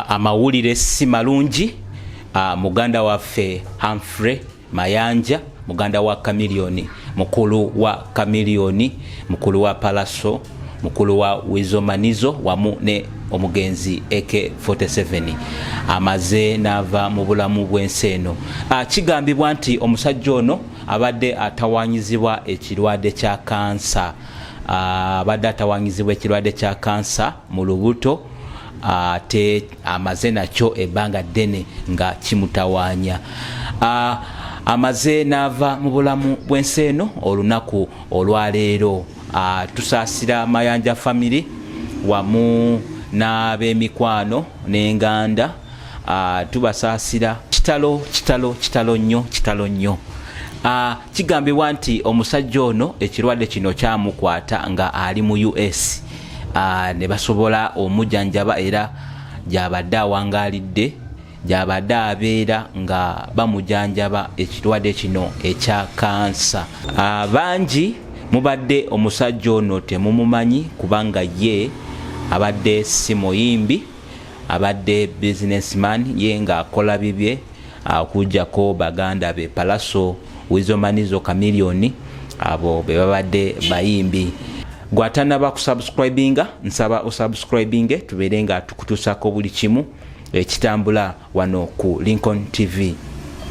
amawulire si malungi muganda waffe Humphrey Mayanja muganda wa Chameleone mukulu wa Chameleone mukulu wa Palaso mukulu wa Wizomanizo wamu ne omugenzi AK47 amaze n'ava mu bulamu bw'ensi eno ah, kigambibwa nti omusajja ono abadde atawanyizibwa ekirwadde kya kansa ah, abadde atawanyizibwa ekirwadde kya kansa mu lubuto ate amaze nakyo ebbanga ddene nga kimutawaanya amaze n'ava mu bulamu bw'ensi eno olunaku olwaleero tusaasira mayanja famiry wamu n'ab'emikwano n'enganda Ah, tubasaasira kitalo kitalo kitalo nnyo kitalo nnyo ah, kigambibwa nti omusajja ono ekirwadde kino kyamukwata nga ali mu us ah, ne basobola omujanjaba era gyabadde awangaalidde gyabadde abeera nga bamujanjaba ekirwadde kino ekya kansa bangi mubadde omusajja ono temumumanyi kubanga ye abadde si muyimbi abadde business man ye nga akola bibye okujjako baganda be palaso wizomanizo kamiliyoni abo be babadde bayimbi gwatanaba kusubscribinga nsaba osubscribinge tubeere nga tukutusako buli kimu ekitambula wano ku lincoln tv